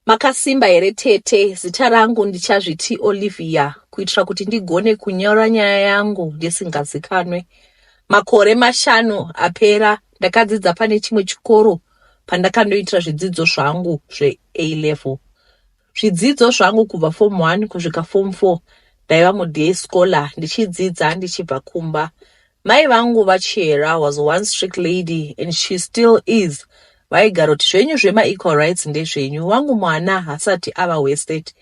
Makasimba here tete? Zita rangu ndichazviti Olivia kuitira kuti ndigone kunyora nyaya yangu ndisingazikanwe. Makore mashanu apera ndakadzidza pane chimwe chikoro pandakandoitira zvidzidzo zvangu zveA level. Zvidzidzo zvangu kubva form 1 kusvika form 4 ndaiva muday scholar ndichidzidza ndichibva kumba. Mai vangu vaChihera was one strict lady and she still is vaigara kuti zvenyu zvema equal rights ndezvenyu wangu mwana hasati ava wasted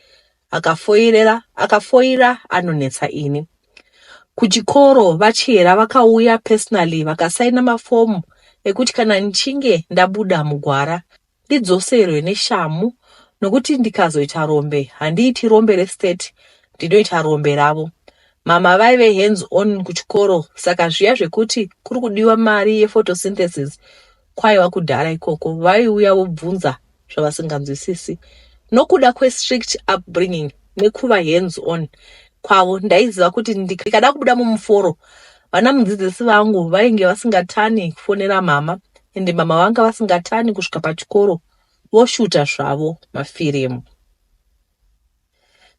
akafoirera akafoira anonetsa ini kuchikoro vachihera vakauya personally vakasaina mafomu ekuti kana ndichinge ndabuda mugwara ndidzoserwe neshamu nokuti ndikazoita rombe handiiti rombe restate ndinoita rombe ravo mama vaive hands on kuchikoro saka zviya zvekuti kuri kudiwa mari yephotosynthesis kwaiva kudhara ikoko vaiuya vobvunza zvavasinganzwisisi nokuda kwestrict upbringing nekuva hands on kwavo ndaiziva kuti ndikada kubuda mumuforo vana mudzidzisi vangu vainge vasingatani kufonera mama ende mama vanga vasingatani kusvika pachikoro voshuta zvavo mafirimu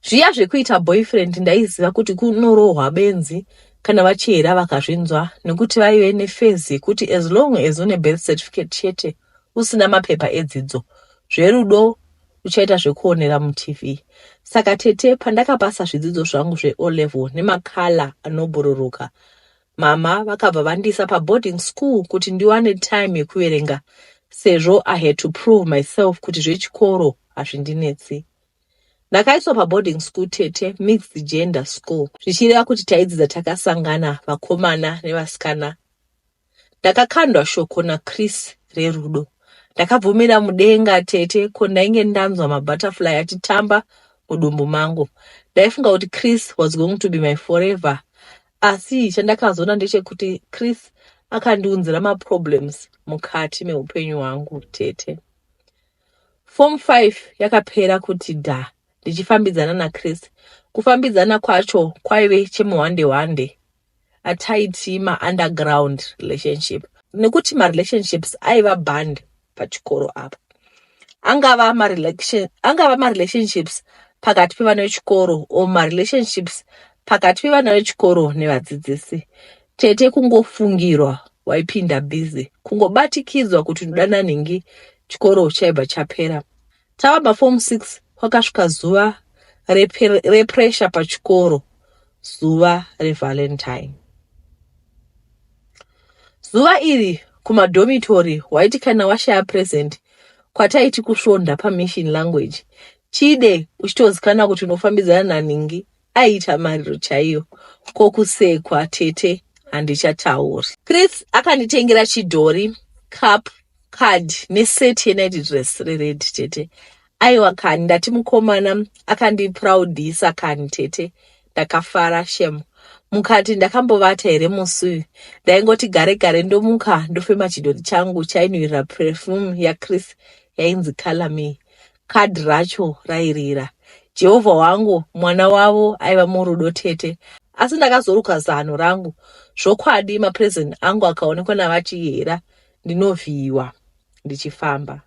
zviya zvekuita boyfriend ndaiziva kuti kunorohwa benzi kana vachihera vakazvinzwa nekuti vaive nefezi yekuti as long as une birth certificate chete usina mapepa edzidzo zverudo uchaita zvekuonera mutv saka tete pandakapasa zvidzidzo zvangu zveolevel nemakala anobhururuka mama vakabva vandiisa paboarding school kuti ndiwane time yekuverenga sezvo i had to prove myself kuti zvechikoro hazvindinetsi ndakaiswa paboarding school tete mixed gender school zvichireva kuti taidzidza takasangana vakomana nevasikana Ndakakandwa shoko naChris rerudo. Ndakabvumira mudenga tete ko ndainge ndanzwa mabutterfly achitamba mudumbu mangu. Ndaifunga kuti Chris was going to be my forever. Asi chandakazoona ndechekuti Chris akandiunzira maproblems mukati meupenyu hwangu tete. Form 5 yakapera kuti dha ndichifambidzana naChris. Kufambidzana kwacho kwaive chemuhwande hwande. ataiti ma underground relationship nekuti ma relationships aiva band pachikoro apo angava ma relation angava ma relationships pakati pevana vechikoro or ma relationships pakati pevana vechikoro nevadzidzisi tete kungofungirwa waipinda busy kungobatikidzwa kuti unoda nanhingi chikoro chaibva chapera Tava paform six kwakasvika zuva represha pachikoro, zuva revalentine. Zuva iri kumadhomitori waiti kana washaya present kwataiti kusvonda pamachine language chide uchitozikana kuti unofambidzana naningi aiita mariro chaiyo ko kusekwa tete handichatauri chris akanditengera chidhori cup card neset yenight dress rered tete aiwa kani ndati mukomana akandiproudisa kani tete ndakafara shem mukati ndakambovata here musi uyu ndaingoti gare gare ndomuka ndofema chidhori changu chainwirira perfume yachris yainzi calame Card racho rairira. Jehovha wangu, mwana wavo aiva murudo tete. Asi ndakazoruka zano rangu. Zvokwadi mapresent angu akaonekwa navaChihera ndinovhiyiwa ndichifamba.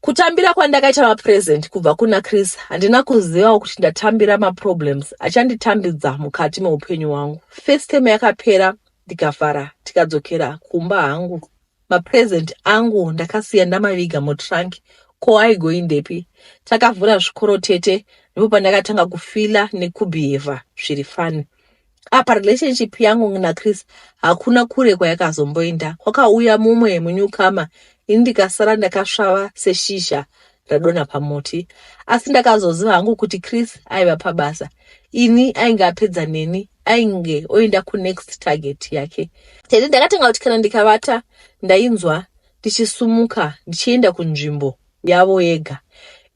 Kutambira kwandakaita mapresent kubva kuna Chris handina kuzivawo kuti ndatambira maproblems achanditambidza mukati meupenyu wangu. First time yakapera ndikafara tikadzokera kumba hangu. Mapresent angu ndakasiya ndamaviga mutrunk ko aigoindepi. Takavhura zvikoro tete ndipo pandakatanga kufila nekubehava zviri fani. Apa relationship yangu naChris hakuna kure kwayakazomboenda. Kwakauya mumwe munyukama ini ndikasara ndakasvava seshizha radonha pamuti asi ndakazoziva hangu kuti chris aiva pabasa ini ainge apedza neni ainge oenda kunext target yake tete ndakatanga kuti kana ndikavata ndainzwa ndichisumuka ndichienda kunzvimbo yavo yega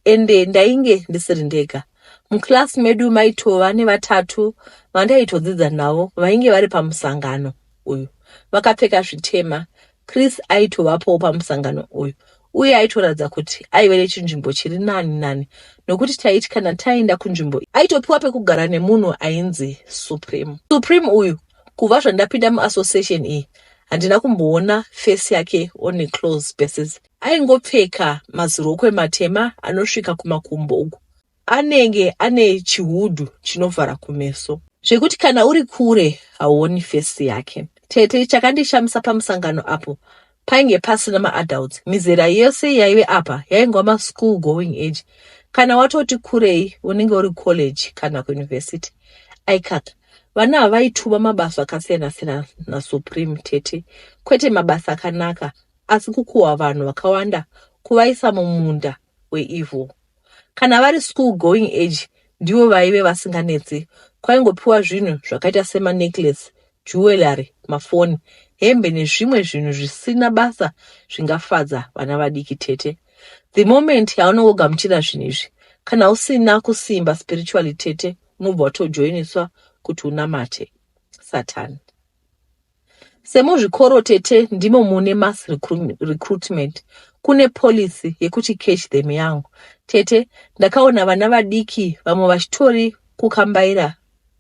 ende ndainge ndisiri ndega muclass medu maitova nevatatu vandaitodzidza navo vainge vari pamusangano uyu vakapfeka zvitema Chris aitovapowo pamusangano uyu uye aitoratidza kuti aive nechinzvimbo chiri nani nani nokuti taiti kana taenda kunzvimbo aitopiwa pekugara nemunhu ainzi supreme supreme uyu kuva zvandapinda muassociation iyi handina kumboona fesi yake one close basis aingopfeka mazirokwe matema anosvika kumakumbo uku Anenge ane chihudu chinovhara kumeso. Zvekuti kana uri kure hauoni face yake. Tete chakandishamisa pamusangano apo painge pasina maadults mizera yese yaive apa yaingwa maschool going age kana watoti kurei unenge uri college kana kuuniversity aikaka vana ava vaituva mabasa akasiyana-siyana nasupreme tete kwete mabasa akanaka asi kukuhwa vanhu vakawanda kuvaisa mumunda weevil kana vari school going age ndivo vaive vasinganetse kwaingopiwa zvinhu zvakaita semanecklace jewellery mafoni hembe nezvimwe zvinhu zvisina basa zvingafadza vana vadiki tete the moment yaunongogamuchira zvinhu izvi kana usina kusimba spiritually tete unobva watojoiniswa kuti unamate satani Semuzvikoro tete ndimo mune mass recruitment kune policy yekuti catch them young tete ndakaona vana vadiki vamwe vachitori kukambaira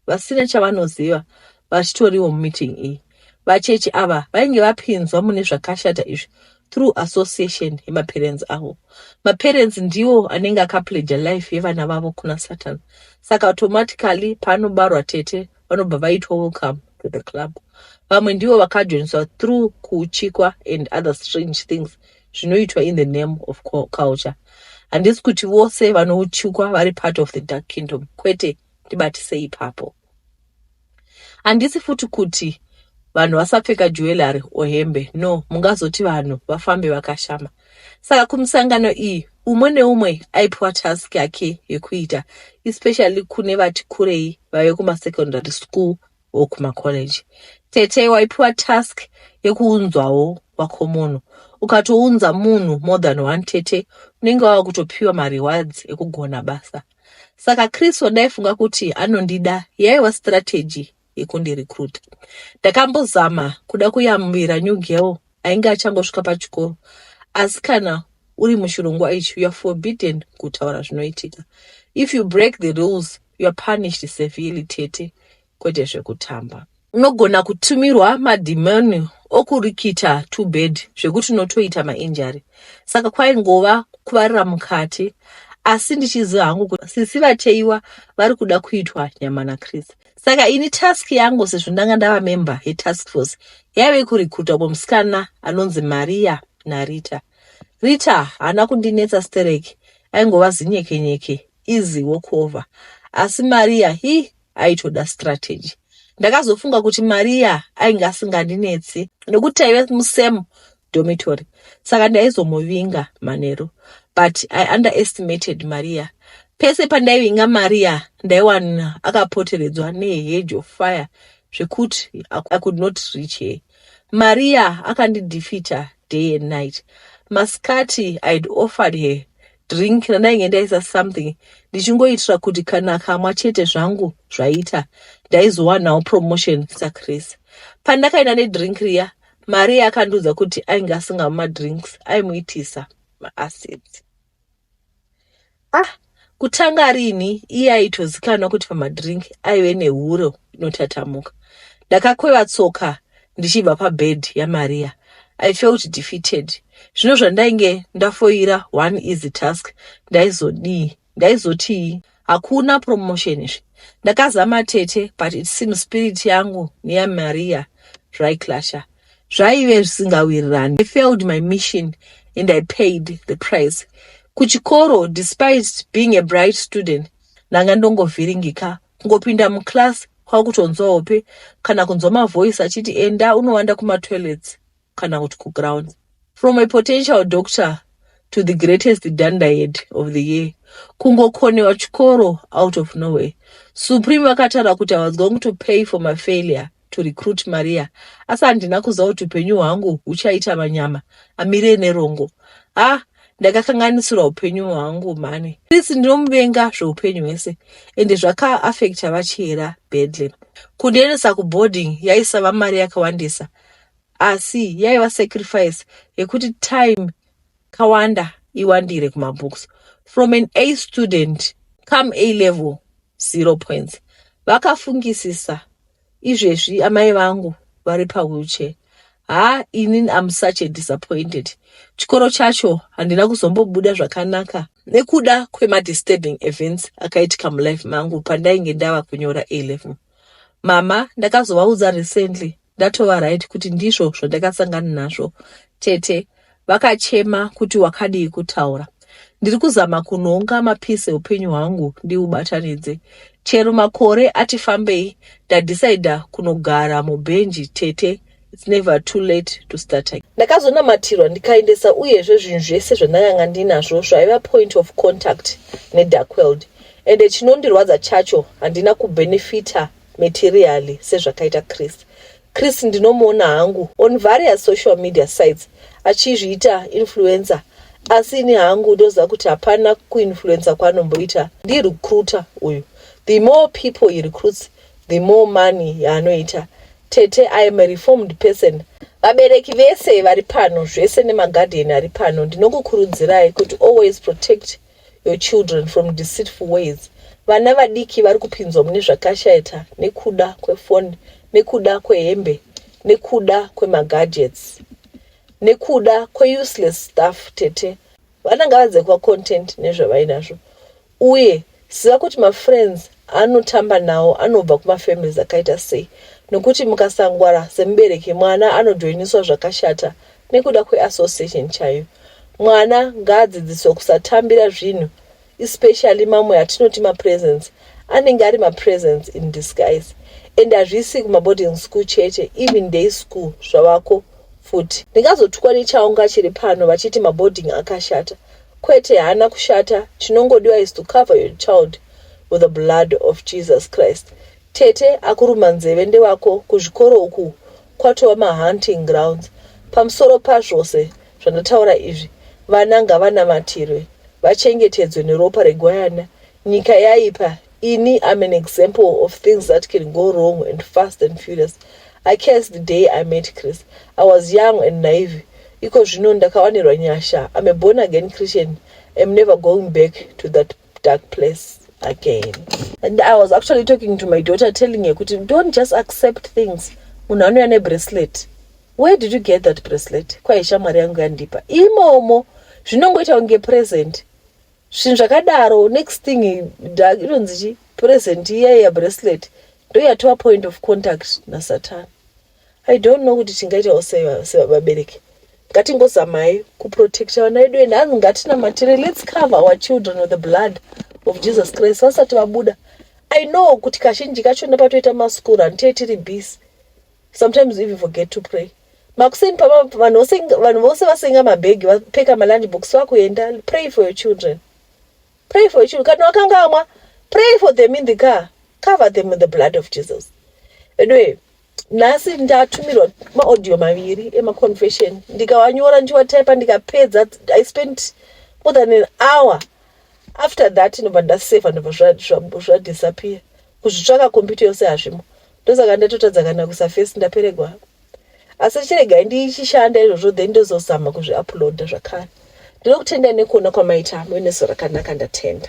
vasina chavanoziva vachitoriwo mumeeting iyi vachechi ava vainge vapinzwa mune zvakashata izvi through association yemaparents avo maparents ndiwo anenge akapledger life yevana vavo kuna satan saka automatically paanobarwa tete vanobva vaitwa welcome to the club vamwe ndivo vakajoiniswa through kuuchikwa and other strange things zvinoitwa in the name of culture handisi kuti vose vanouchikwa vari part of the dark kingdom kwete ndibatise ipapo handisi futi kuti vanhu vasapfeka juwelary or hembe no mungazoti vanhu vafambe vakashama saka kumisangano iyi umwe neumwe aipiwa task yake yekuita especially kune vati kurei vave kumasecondary school or kumacollege tete waipiwa task yekuunzwawo wako munhu ukatounza munhu more than one tete unenge wava kutopiwa marewards ekugona basa saka kristo daifunga kuti anondida yaiva strategy yekundirecruita. Ndakambozama kuda kuyambira new girl ainge achangosvika pachikoro asi kana uri muchirongwa ichi youare forbidden kutaura zvinoitika if you break the rules youare punished severely tete kwete zvekutamba unogona kutumirwa madhimoni okurikita two bed zvekuti unotoita mainjari saka kwaingova kuvarira mukati asi ndichiziva hangu kuti sisi vateiwa vari kuda kuitwa nyama nachris saka ini task yangu sezvo ndanga ndava member yetask force yaive kurikuta umwe musikana anonzi maria narita rita haana kundinetsa stereki aingova zinyekenyeke easy walkover asi maria hi aitoda strategy ndakazofunga kuti maria ainge asingandinetsi nekuti taive musem dormitory saka ndaizomuvinga manheru but i underestimated maria pese pandaivinga maria ndaiwana akapoteredzwa nehedge of fire zvekuti i could not reach her maria akandidefeater day and night masikati i'd offered her drink randainge ndaisa something ndichingoitira kuti kana kamwa chete zvangu zvaita ndaizowanawo promotion sakrese pandakaenda nedrink riya mari yakandiudza kuti ainge asingamwi madrinks aimuitisa maacids ah kutanga rini iye aitozikanwa kuti pamadrink aive nehuro inotatamuka ndakakweva tsoka ndichibva pabed yamariya i felt defeated zvino zvandainge ndafoira one easy task ndaizodii ndaizotii hakuna promotion izvi ndakazama tete but it seems spirit yangu neyamaria zvaiclasha zvaive zvisingawirirani i failed my mission and i paid the price kuchikoro despite being a bright student ndanga ndongovhiringika kungopinda muclass kwakutonzwa hope kana kunzwa mavoice achiti enda unowanda kumatoilets kana kuti kuground from a potential doctor to the greatest dandahead of the year kungokonewa chikoro out of nowhere supreme vakataura kuti i was going to pay for my failure to recruit maria asi handina kuziva kuti upenyu hwangu huchaita manyama amire nerongo ah ndakakanganisirwa upenyu hwangu mhani sisi ndinomuvenga zveupenyu hwese ende zvakaafekta vachihera bedlam kundiendesa kuboarding yaisava mari yakawandisa asi yaiva sacrifice yekuti time kawanda iwandire kumabooks from an a student come a level zero points vakafungisisa izvezvi amai vangu vari pawheelchair ha inin am such a disappointed chikoro chacho handina kuzombobuda zvakanaka nekuda kwemadisturbing events akaitika mulife mangu pandainge ndava kunyora a level mama ndakazovaudza recently ndatova right kuti ndizvo zvandakasangana nazvo tete vakachema kuti wakadii kutaura ndiri kuzama kunhonga mapisi eupenyu hwangu ndiubatanidze chero makore ati fambei ndadhisaidha kunogara mubhenji tete it's never too late to start again ndakazonamatirwa ndikaendesa uyezve zvinhu zvese zvandakanga ndinazvo zvaiva point of contact nedarkweld ende chinondirwadza chacho handina kubenefita materially sezvakaita Chris. Chris ndinomuona hangu on various social media sites achizviita influencer asi ini hangu ndoziva kuti hapana kuinfluencer kwaanomboita ndirecruiter uyu the more people he recruits the more money yaanoita tete i am a reformed person vabereki vese vari pano zvese nemaguardian ari pano ndinokukurudzirai kuti always protect your children from deceitful ways vana vadiki vari kupinzwa mune zvakashaita nekuda kwefoni nekuda kwehembe nekuda kwemagadgets nekuda kweuseless stuff tete vana ngavadze kuva content nezvavainazvo uye ziva kuti mafriends anotamba nawo anobva kumafamilies akaita sei nokuti mukasangwara semubereki mwana anojoiniswa zvakashata nekuda kweassociation chaiyo mwana ngaadzidziswe kusatambira zvinhu especially mamwe atinoti mapresence anenge ari mapresence in disguise and hazvisi kumaboarding school chete even day school zvavako futi ndingazotukwa nechaunga chiri pano vachiti maboarding akashata kwete haana kushata chinongodiwa is to cover your child with the blood of jesus christ tete akuruma nzeve ndewako kuzvikoro uku kwatova mahunting grounds. Pamusoro pazvose zvandataura izvi, vana ngavanamatirwe, vachengetedzwe neropa regwayana. Nyika yaipa, ini I'm an example of things that can go wrong and fast and furious. I cursed the day I met Chris. I was young and naive. Iko zvino ndakawanirwa nyasha. I'm a born again Christian. I'm never going back to that dark place again and i was actually talking to my daughter telling her kuti don't just accept things munhu anouya nebracelet where did you get that bracelet kwaye shamwari yangu yandipa imomo zvinongoita kunge present zvinhu zvakadaro next thing inonzi chi present iya iya bracelet ndoyatova point of contact nasatani I don't know kuti tingaitawo sevabereki ngatingozamai kuprotecta vana vedu ende hanzi ngatinamatire let's cover our children with the blood of jesus christ vasati vabuda i know kuti kazhinji kacho nepatoita maschool run tiye tiri busy sometimes even forget to pray makuseni pavanhu vose vasenga mabhegi vapfeka malunch box vakuenda pray for your children Pray for your children. Kana wakangamwa, pray for them in the car. Cover them with the blood of Jesus. Anyway, nhasi ndatumirwa maaudio maviri emaconfession ndikawanyora ndichiwatypa ndikapedza i spent more than an hour after that ndobva ndaseva ndobva zvadisappear kuzvitsvaka computer yose hazvimo ndosaka ndatotadza kana kusafesi ndaperegwa asi chiregai ndichishanda izvozvo then ndozozama kuzviuploada zvakare ndinokutendai nekuona kwamaita hamwe neso rakanaka ndatenda